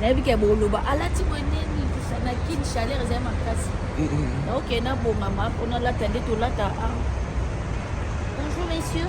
nayebi ke boloba alati boye nini na kin chaleur ezali makasi naoke nabongama mpo nalata nde tolata a ah. bonjour monsieur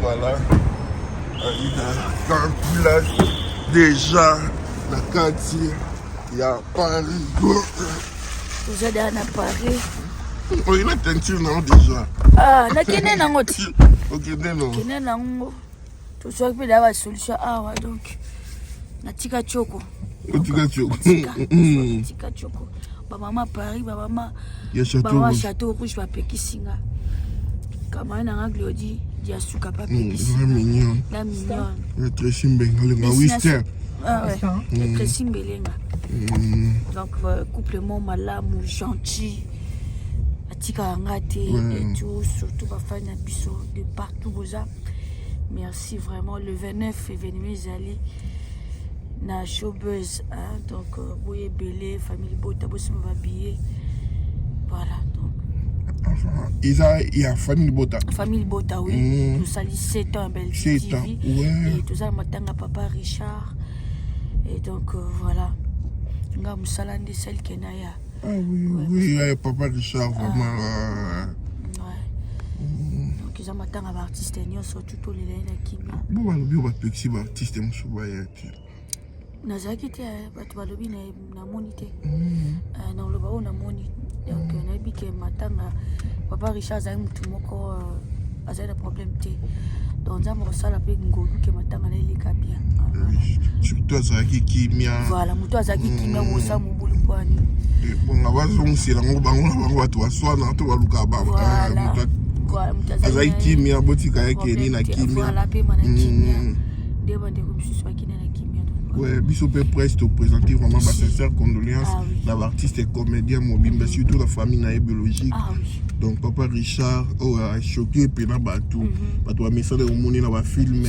Voilà. Aida Campula déjà na kati ya Paris. Toza da na Paris. Oyo na teinture na déjà. Ah, na kende nango ti. Okende nango. Kende nango. tozwaki mpe na ba solution awa donc natika tioko otika tioko tika tioko bamama paris bamama bamama chateau rouge bapekisi nga kamani na nga glodi ya suka bapekisi mm, mignon la mignon ya tresi mbengalenga wister ya tresi mbelenga donc euh, couple mo malamu gentil atikaka nga te etout surtout bafani na biso de partout boza merci vraiment le 29 événement ezali na showbuzz hein? donc euh, boye ebele famille libota bosima babillet voilà donc eza ya famille libota famille libota oui mm. tosali 7 ans ya belgique tv ouais. toza na matanga papa richard et donc euh, voilà nga mosala nde esali kena ya ah, oui, ouais, oui, ouais, papa richard vraiment ah. euh, eza matanga ba artiste nyonso tu tolela ye na kimia bo balobi oyo bapekisi ba artiste mosusu baya te nazalaki te eh, bato balobi namoni te mm. eh, na oloba oyo namoni donc mm. nayebi ke matanga papa richard azali motu moko eh, azali na problème te donc nzambe akosala mpe ngolu ke matanga na eleka bien surtout azalaki kimia voilà motu azalaki kimia mm. kosamu Bulungwani. Eponga bazongisela yango bango na bango bato baswana to baluka azali kimia botika ya keni na kimia mm. nde bandeko mosusu bakende na kimia Ouais, biso mpe presse topresente vraiment basincère condoléance ah na baartiste et comédien mobimba mm. surtout la famille na ye biologique ah donc papa richard oyo oh, achoke mpe na bato mm-hmm. bato bamesana omoni na bafilme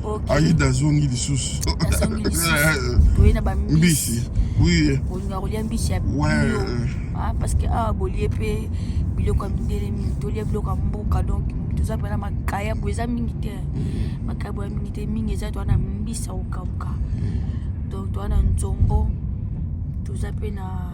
okay. ayida azongi lisusu mbisi oui olinga kolia mbisi ya bio ah, parce que awa ah, bolie mpe biloko ya mindele mingi tolia biloko ya mboka donc toza mpena makayabo eza mingi te mm. makayabo ya mingi te mingi eza towana mbisi ya kokauka mm. donc towana nzombo toza mpe na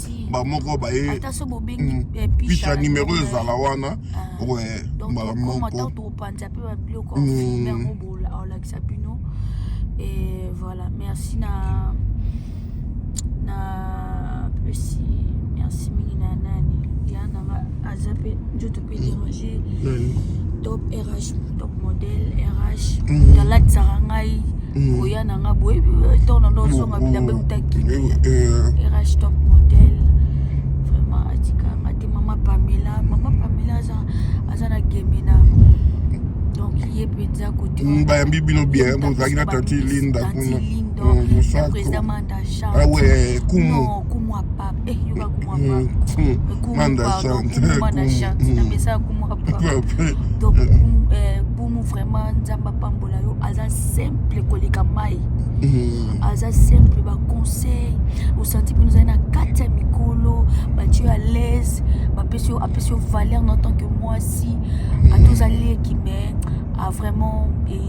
ti bamoko baye ata so bobengi mm. eh, picha nimero ezala wana ah. we mbala moko tokopanza mpe babiloko mm. yango bolakisa bino et voilà merci na na pesi merci mingi na nani ya nanga aza mpe nzoto puis déranger top rh top model rh talatisaka mm. ngai mm. koya na ngai boye ntango na ndo ozonga bilamba eutaki rh top model vraiment atikanga te mama pamela mama pamela aza aza na gemena donc ye mpenza kotibayambi mm, bino bien bozalaki na tanti linda kuna mosako ah kumu Eh, yoka kumwa eh, pa. Eh, kumwa pa. Kumwa na chance. Na mesa kumwa pa. Donc, bumu vraiment nzamba pambola yo aza simple koleka mai. Mm. aza simple baconseil osanti mpe ozali na kati ya mikolo bati yo alaise bapesi yo apesi yo valeur na tant que mwasi mm. ata ozali ekime a ah, vraiment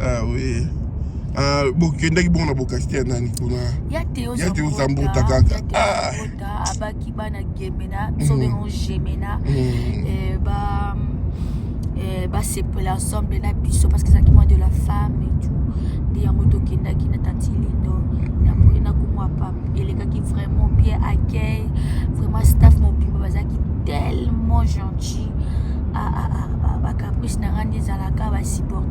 ah oui ah bokendaki bongo na bokasite ya nani kuna ya te ozambuta kaka ah. abaki bana gemena biso mm. bengo gemena mm. eh, ba eh, basepela ensemble na biso parce que ezalaki mwa de la femme et tout nde yango tokendaki na tanti lindo napoye na komwa pap elekaki vraiment bien accueil vraiment staff mobimba bazalaki tellement gentil ah, ah, ah, bacaprice na nga nde ezalaka basupporte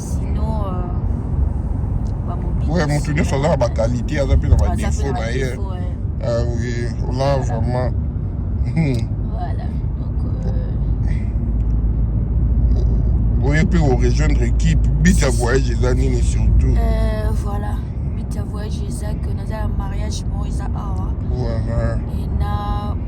Ouais, moto nyonso aza na bakalite aza mpe na badefo na ye ah oui ola vraiment hmm. oye mpe orejoindre équipe but ya voyage eza nini surtout euh, voilà but ya voyage eza que naza ya mariage moko eza awa voilà.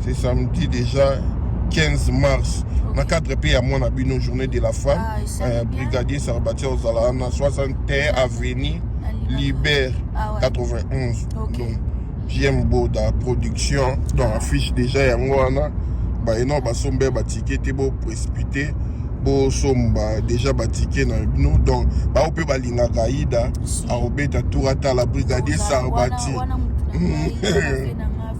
C'est samedi déjà 15 mars okay. na cadre mpe ya mwana bino journée de la femme ah, euh, brigadier sarbati ozala wana 61 avenue libert ah, ouais. 91 okay. donc jm boda production donc ah. affiche déjà yango wana baino basombe batike te boprécipite bosomba déjà batike na bino donc bao mpe balingaka aida akobeta tour atala brigadier sarbati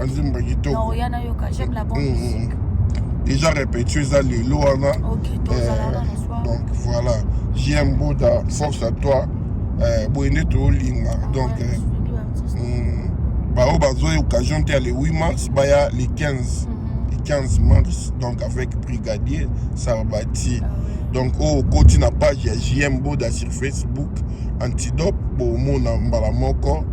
azimba kitoko eza répétio eza lelo wana donc voilà jm boda force à toi euh, boye nde tolinga ah, donc euh, hmm, baoyo bazwa occasion te ya le 8 mars baya le 15 le 15 mars donc avec brigadier sarbati ah donc oyo oh, okoti na page ya jm boda sur facebook antidope bomona mbala moko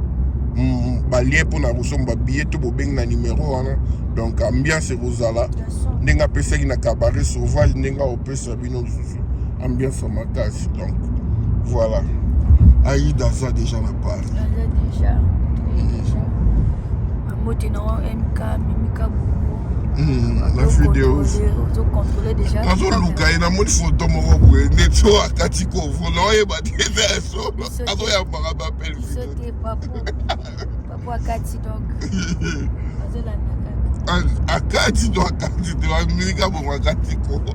mm, balie mpo na kosomba billet to bobengi na numero wana donc ambiance ekozala ndenge apesaki na cabaret sauvage ndenge aopesa bino lisusu ambiance makasi donc voilà aida aza déjà na paris mbote na yo mk mimika bongo na videos azoluka ye namoni foto moko boye ndeti oyo akati kovo na oyeba te eza ya solo azoyambaka bapel akati to akati te bamilika bongo akati kovo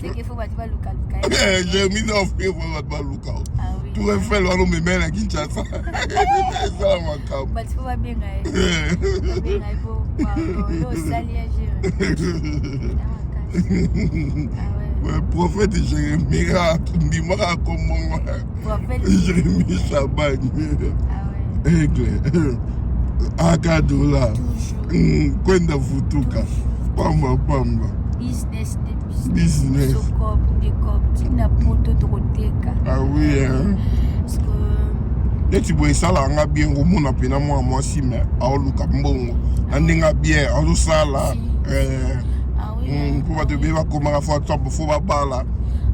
Seke fo bato baluka luka. Eh, j'ai mis en fait fo bato baluka. Ah oui. Tu es fait loin mais mais la Kinshasa. Ça ma cam. Bato fo ba benga. Benga fo. Yo sali ya jere. Ah prophète Jérémie a ndimaka akombongo Jérémie Shabani ah aigle akadola kwenda mm, vutuka pamba pamba business na poto tokoteka ah oui hein neti boye esalaka nga bien komona mpena mwana mwasi me aoluka mbongo na ndenge bien azosala eh, ah hmm, mpo bato ebele bakomaka fo atop fo babala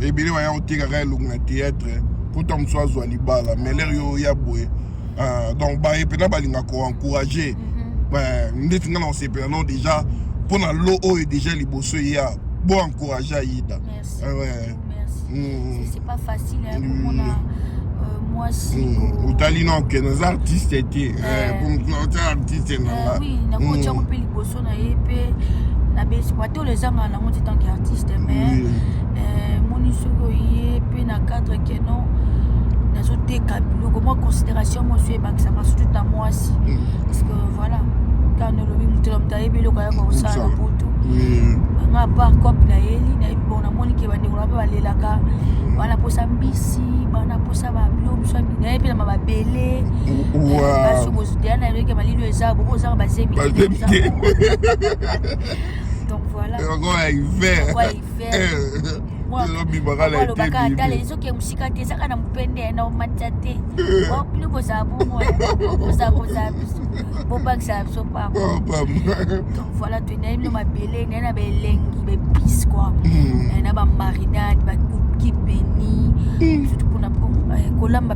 ebele baya kotekaka elongo na théâtre mpo ta mosusu azwa libala mais lere yo ya boye euh, donc baye mpena balinga koencourage mhm. euh, ndeti ngai na kosepela no déjà mpo na lo oyo déjà liboso eya bo encourage ayida euh, mm. otali no ke naza artiste te mpo moto na otya artiste na nga tolo ezanga nango ti tant que artiste mais eh, moni soki oye mpe na cadre ke non nazoteka biloko mwa considération mosu ebakisaka surtout na mwasi mm. parce que voilà kani olobi moto na moto ayebi eloko ayaka kosala na butu nga apart cope nayeli nayebi bon namoni ke bandeko na mpe balelaka mm. bana posa mbisi bana posa bablo mosu naye mpe na mababele basi okoziteya na eloko ya malili eza boko ozaka bazemi donc voilà lokola hiver lokola hiver ezobimaka na eteolobaka tala ezoki ya mosika te ezaka na mopende na omatisa te bino kozala bongo kozala kozala biso bobakisaka biso pamba donc voilà toyendai bino mabele naye na baelengi baepice kua hmm. na bamarinade bakuki beni surtout mpona kolamba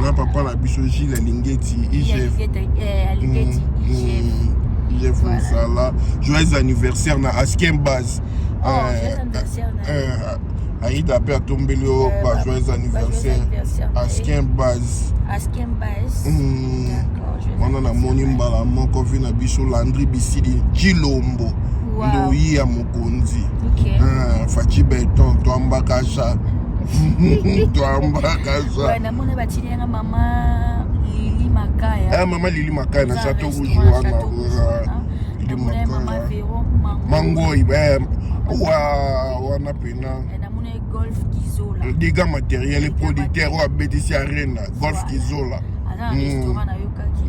nga papa na biso gile alingeti igf mosala joyeux anniversaire na askin base oh, euh, euh, aida mpe atombeli yo euh, ba joyeux anniversaire askin base hmm. wana namoni mbala moko vi na biso landri bisili jilombo ndoyi ya mokonzi faci beton toambakasha namona batili yanga mama lili makaya eh, mama lili makaya na chateau rouge wana mangoi eh, wana pena eh, golf kizola dégâts matériel producteur oyo abetisi arena golf kizola aza na restaurant nayokaki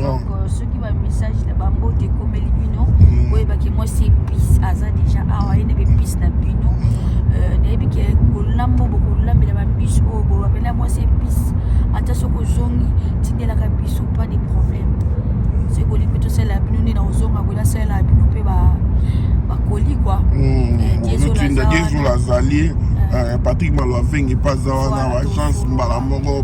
donc euh, soki bamessage na bambote ekomeli bino boyebaki mwasi epice aza deja awa ye na bepice na bino euh, nayebi ke kolambo bokolambela bambisi oyo bolobela mwasi epice ata soki ozongi tindelaka biso pas de problème soki bolingi mpe tosalela bino nde na ozonga boye nasalela bino mpe bakoli kua diezola azali patrick malo avengi mpe aza wana baagence mbala moko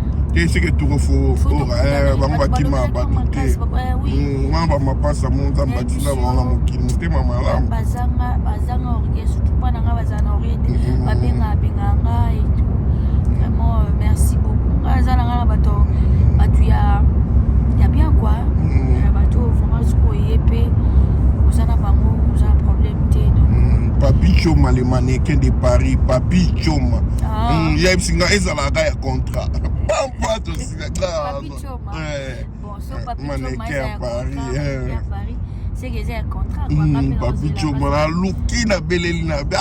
te seke tuko fo eh, bango bakima bato te hmm, wana bamapasa mo nzambe atinda bango na mokili motema malamu merci beaucoup nga aza na nga na bato bato ya ya bien quoi mm. eh, bato vraiment soki oye mpe oza na bango oza na problème te mm, papi choma le mannequin de paris papi choma ah. mm, yebisi nga ezalaka ya contrat pampa tosilaka maneke ya paris papi coma naluki na beleli na be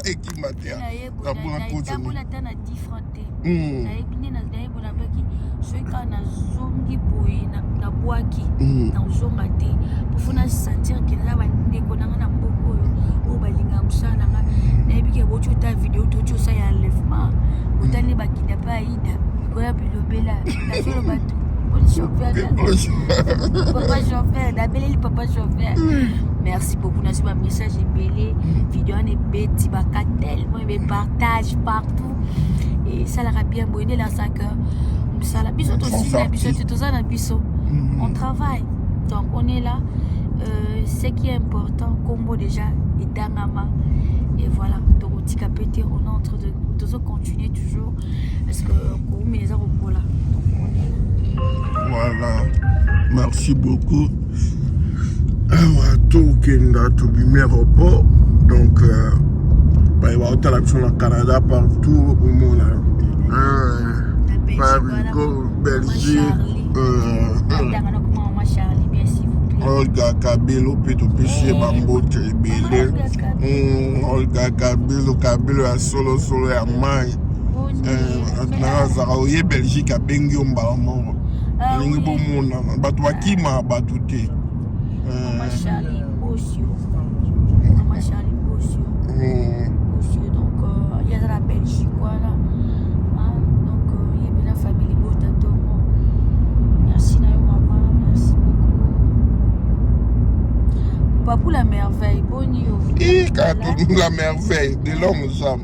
ekima te napona kota soki kaka nazongi boye nabwaki eh. nakozonga te pofo na sentir ke naza bandeko nanga na mboka oyo oyo balingaka mosala na nga nayebi ke boti ota video toti osala ya enlèvement otali bakida mpe aida mikoya bilobela nazoloba tu papa chauffeur nabeleli papa chauffeur merci beaucoup nazwi bamessage ebele video wana ebeti bakatele mo ebe partage partout esalaka bien boye nde elasaka mosala biso tosila biso te toza na biso mm-hmm. on travaille donc on est là euh, ce qui est important kombo déjà etangama et voilà tokotika mpe te on entre de tozo continuer toujours parce que koumela eza kokola voilà merci beaucoup awa tokenda tobimi aéroport donc euh, baye baotala biso na canada partout omona parigo belgique olga kabelo mpe topesi ye bambote ebele olga kabelo kabelo ya solosolo ya mai nazalaka eh, oye belgique abengi yo mbala moko ah olingi bomonana bato bakima bato te eh. Papou la merveille, bonjour. Et la merveille de l'homme aux hommes.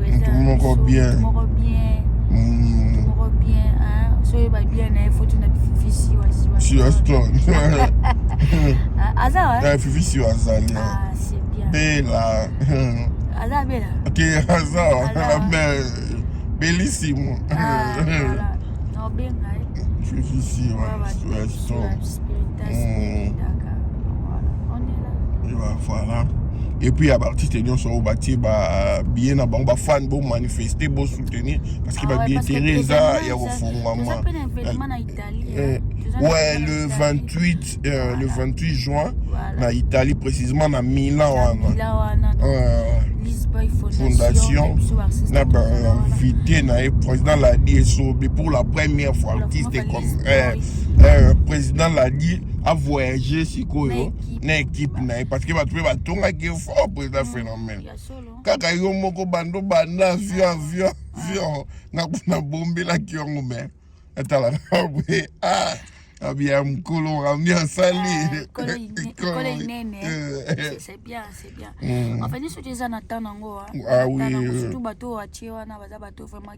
mutu moko bien mm. ah, fifi siwa azali bela aza bela ke aza wana belle belissimo ah, fifi siwa voilà et puis ya baartiste nyonso oyo batie babillet na bango bafane bomanifeste bosoutenir parce que babillet tere eza ya kofungwama ouais le 28 euh, le 28 juin voilà. na italie précisément na milan wana euh, fondation na bainvité na ye président ladi esobe pour la première fois artiste eh, eh, président l'a dit a voyagé sikoyo na équipe na ye parce que bato mpe batongaki fort président mm, phénomène kaka yo moko bando banda avion avion avion nakuna bombelaki yango me etala na boye ah abia mokolo ami asali ekolo inene c'est bien c'est bien en fait nyonso te eza na temps nango surtout bato oyo atie wana baza bato vraiment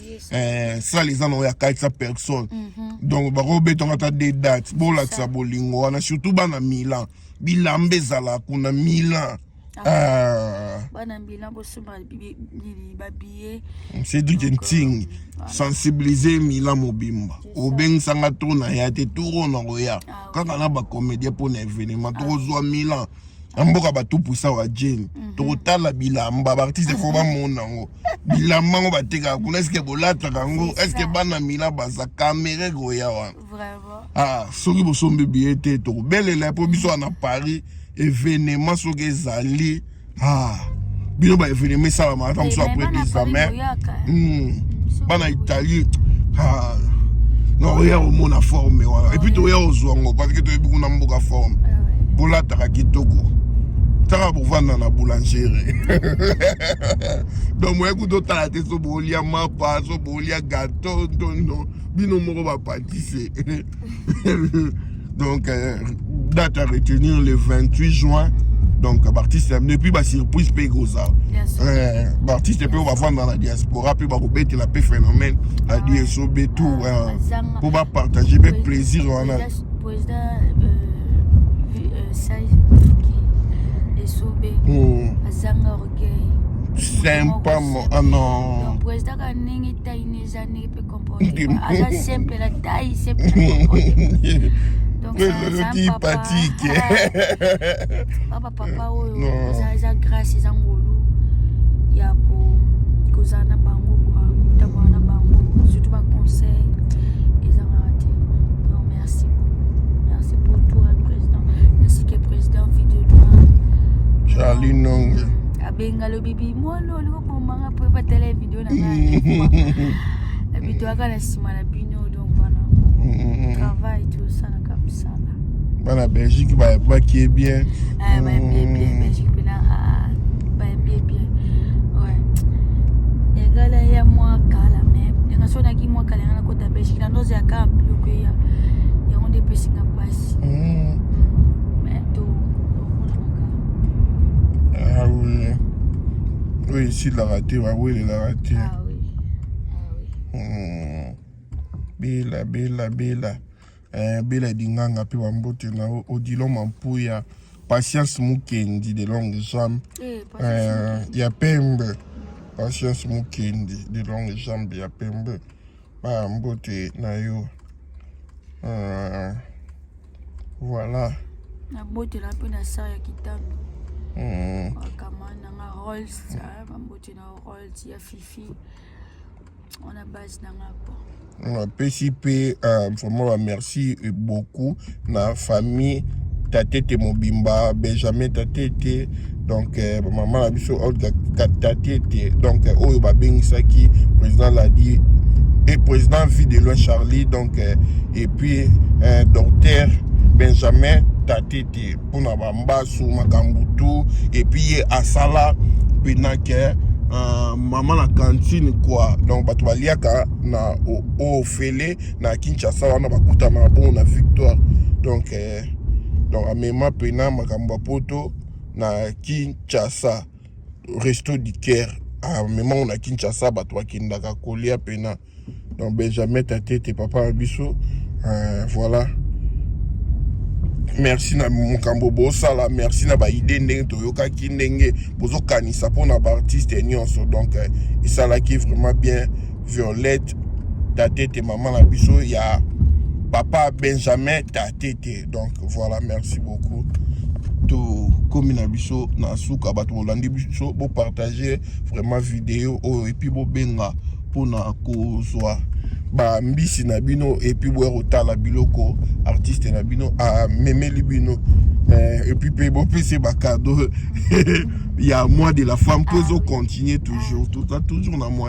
eh, sale eza na oyo akatisa personne mhm. donc bakobetanga ata de date bolakisa bolingo wana surtout bana milan bilamba ezala kuna milan ah. ah. bana milan bosomba babiye cedrik nting euh, sensibilize milan mobimba obengisanga to na ya te toro na koya ah, kaka na bacomédien mpo na événement tokozwa milan na mboka bato pusa wa jeni mhm. tokotala bilamba baartiste fo bamona yango bilamba yango batekaka kuna eske bolataka yango eske bana mila baza kamere koya wana ah, soki bosombi biye te tokobelela mpo biso wana paris evenema soki ezali ah. bino ba evenema esalama ata mosusu après 10 ans mais bana italie ah, non oya omona forme wana epuis toya ozwa ngo parce que toyebi kuna mboka forme ah bolataka kitoko taka bovanda na boulangere donc moye kuta otala te so bolia mapa so bolia gateau ntondo bino moko bapatise donc euh, date à retenir le 28 juin donc baartiste et puis basurprise mpe ekozala baartiste mpe oyo bavanda na diaspora mpe bakobetela mpe phénomène na dso be tour mpo bapartage mpe plaisir wana sympa ah non ndenge mpe comporte aza simple na taille simple patike baba papa oyo eza grâce eza ngolu ya kozala na bango kwa kotambola na bango surtout baconseil ezangaka te donc merci merci pour toi président merci ke président vie de loi charlie nonge abenga lobibi mwana olingo bomanga mpo ebatala video nabitoaka na nsima na bino donc wana mm-hmm. travail tosalaka mosala bana belgique bayebaki ye bien eh, bayembi ye bien mm. belgique mpena ah, bayembi ye bien egala ya mwa kala me ndenge so naki mwa kala yanga nakota belgique na ndozo ya kaka biloko eya yango nde epesinga mpasi mm. mm. oyo esilaka te bawelelaka te ah ah hmm. bela bela bela eh, bela dinganga mpe bambote na odilo mampuya patience mukendi de longue jambe eh, eh, ya pembe patience mukendi de longue jambe ya pembe ba mbote na yo uh, voilà nabotela mpe na sar ya kitando mm. bakama nanga rolls bambote na rolls ya fifi wana base nanga po napesi mpe uh, vraiment bamerci beaucoup na famille tatete mobimba benjamin tatete donc eh, mama na biso olga tatete donc eh, oyo babengisaki président ladi et président vie de loin charlie donc eh, et puis eh, docteur benjamin tatete mpona bambasu makambo tu et puis ye asala mpena ke uh, mama na kantine kua donc bato baliaka na ofele na Kinshasa wana bakutana bongo na victoire donc eh, donc amema pena makambo ya poto na Kinshasa resto du caire amema ngo na Kinshasa bato bakendaka kolia pena donc Benjamin Tatete papa na biso eh, voilà merci na mokambo bosala merci na baide ndenge toyokaki ndenge bozokanisa mpona baartiste nyonso donc eh, esalaki vraiment bien Violette Tatete, maman na biso ya papa Benjamin Tatete. Donc voilà, merci beaucoup. tokomi na biso na suka bato bolandi biso bopartage vraiment video oyo epuis bobenga mpona kozwa bambisi na bino epuis boya kotala biloko artiste na bino amemeli bino eh, epuis mpe bopesi bakado ya mois de la femme mpo ezocontinue toujours toza toujours na mois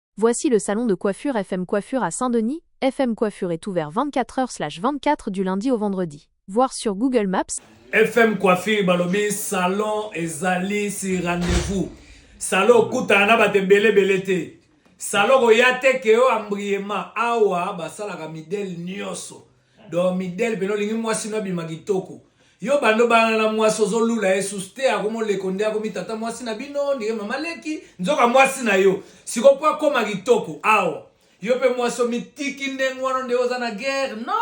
Voici le salon de coiffure FM Coiffure à Saint-Denis. FM Coiffure est ouvert 24h/24 du lundi au vendredi. Voir sur Google Maps. FM Coiffure balobi salon ezali si rendez-vous. Salon okutana na bato ebele ebele te. Salon koya te ke yo ambriema awa basalaka midele nyonso. donc midele pene olingi mwasi no abima kitoko yo bando bana na mwasi ozolula ye suste akomi oleko nde akomi tata mwasi na bino ndenge mama leki nzoka mwasi na yo siko mpo akoma kitoko awa yo mpe mwasi omitiki ndenge wana nde oza na guerre no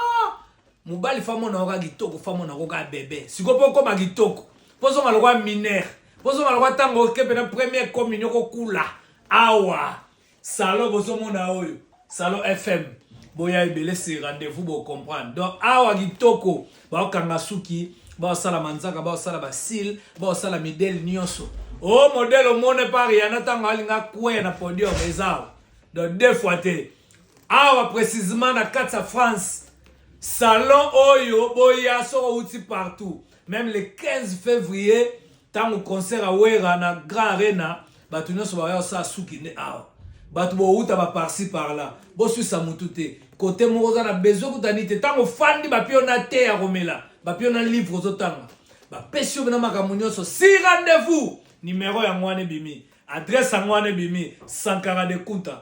mobali famona oka kitoko famona koka bebe siko mpo okoma kitoko mpo ozonga lokwa minere mpo ozonga lokwa ntango oke mpena première communion kokula awa Salon bozo mona oyo, Salon FM. Boya ebele c'est rendez-vous bo comprendre. Donc awa kitoko ba kanga suki, ba sala manzaka, ba sala ba cils, ba sala midel nyoso. Oh modèle au monde par yana tango alinga kwe na podium ezao. Donc deux fois te. Awa précisément na Katsa France. Salon oyo boya soko uti partout. Même le 15 février Tango concert ya Wera na Grand Arena, bato nyonso baya kosala suki nde awa. Bato bowuta ba parci par là. Boswisa mutu te. Kote moko oza na besoin kutani te. Tango fandi bapio na te ya komela, bapio na livre ozotanga. Bapesi yo na makambo nyonso. Si rendez-vous, numero yango wana ebimi. Adresse yango wana ebimi. Sankara de Kunta.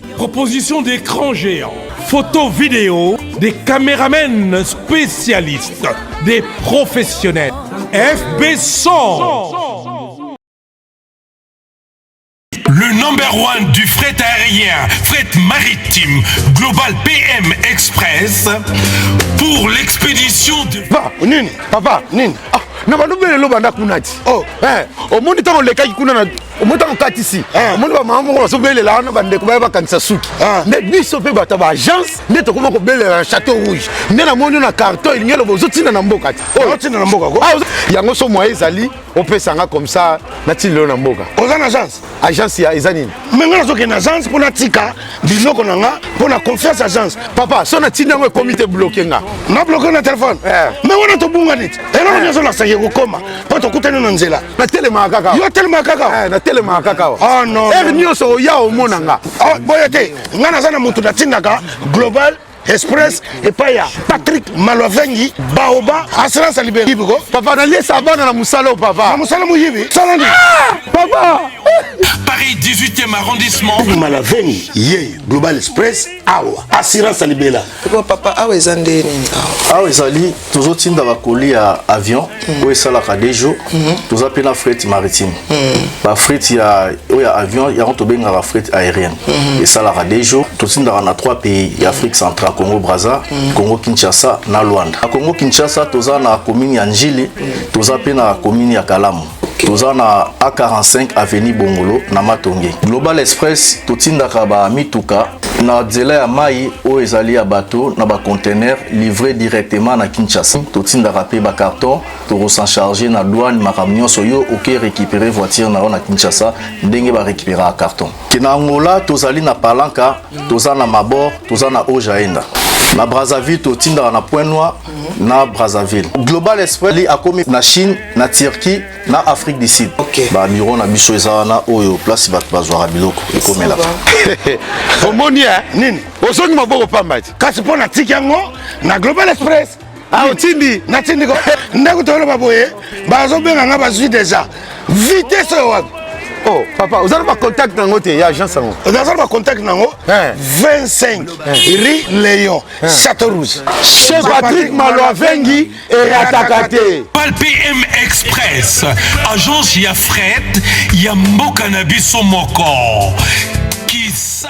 Proposition d'écran géant, photo vidéo, des caméramens spécialistes, des professionnels. FB 100 Le number one du fret aérien, fret maritime, Global PM Express, pour l'expédition de... Papa, nini Papa, nini ah, na balobelelo banda kuna ti oh, eh, omoni ntango olekaki kuna na omota mokatisi ah. omoni bamama moko bazobelela wana bandeko baya bakangisa suki ah. nde biso mpe bato ya baagence nde tokoma kobelela na chateau rouge nde namoni yo na carton elingi eloba ozotinda na mboka te oh. ozotinda na mboka ah, yango so moye ezali opesa nga comme ça natindelo na mboka oza na agence agence ya eza nini me nga nazokende agence mpo natika biloko na nga mpo na confiance agence papa so na ntina yango ekomi te bloke nga na bloke na telefone eh. me wana tobunga neti eloko eh. nyonso nasaki ekokoma mpo tokutani na nzela natelemaka kaka yo atelemaka kaka eh, natelemaka kaka ah, ere nyonso oya omona nga ah, boye te nga naza na motu natindaka global express epai ya patrick malwavengi baoba assurance ya liberi biko papa naliesa bana na mosala oyo papa na mosala moyibi sala nini ah! papa paris 18e arrondissement malavengi ye global express awa assurance ya libela papa awa eza nde nini awa ezali tozotinda bakoli ya avion mm. oyo esalaka de jour mm. toza mpe na frete maritime mm. bafrete ya oyo ya avion yango tobengaka frete aérienne mm. esalaka de jour totindaka na trois pays ya afrique centrale congo braza mm. congo kinshasa na luanda na congo kinshasa toza na commune ya njili mm. toza mpe na commune ya kalamu toza na a45 avenue bongolo na matonge global express totindaka bamituka na nzela ya mai oyo ezali ya bato na bacontener livre directement na kinshasa totindaka mpe bacarton tokosencharge na douane makambo nyonso yo oke récupere voiture na yo na kinshasa ndenge barécupéraka carton ke na angola tozali na palanka toza na mabor toza na ojaenda na brazzaville totindaka na point noir Mhm. na brazzaville global esprit akomi na chine na turquie na afrique du sud okay. bamiro na biso eza wana oyo place bato bazwaka biloko ekomelaka omoni eh? nini ozongi maboko pamba ti kasi mpo na tiki yango na global express ah, otindi natindi ko ndako toloba boye bazobenga nga bazwi deja vitese oyo wapi oh papa oza na bacontact nango te ya agence yango oza na bacontact nango 25 ri leon Chateau Rouge. Chez Patrick Maloavengi et Ratakate. PM Express, agence ya fret ya mboka na biso moko. Kisa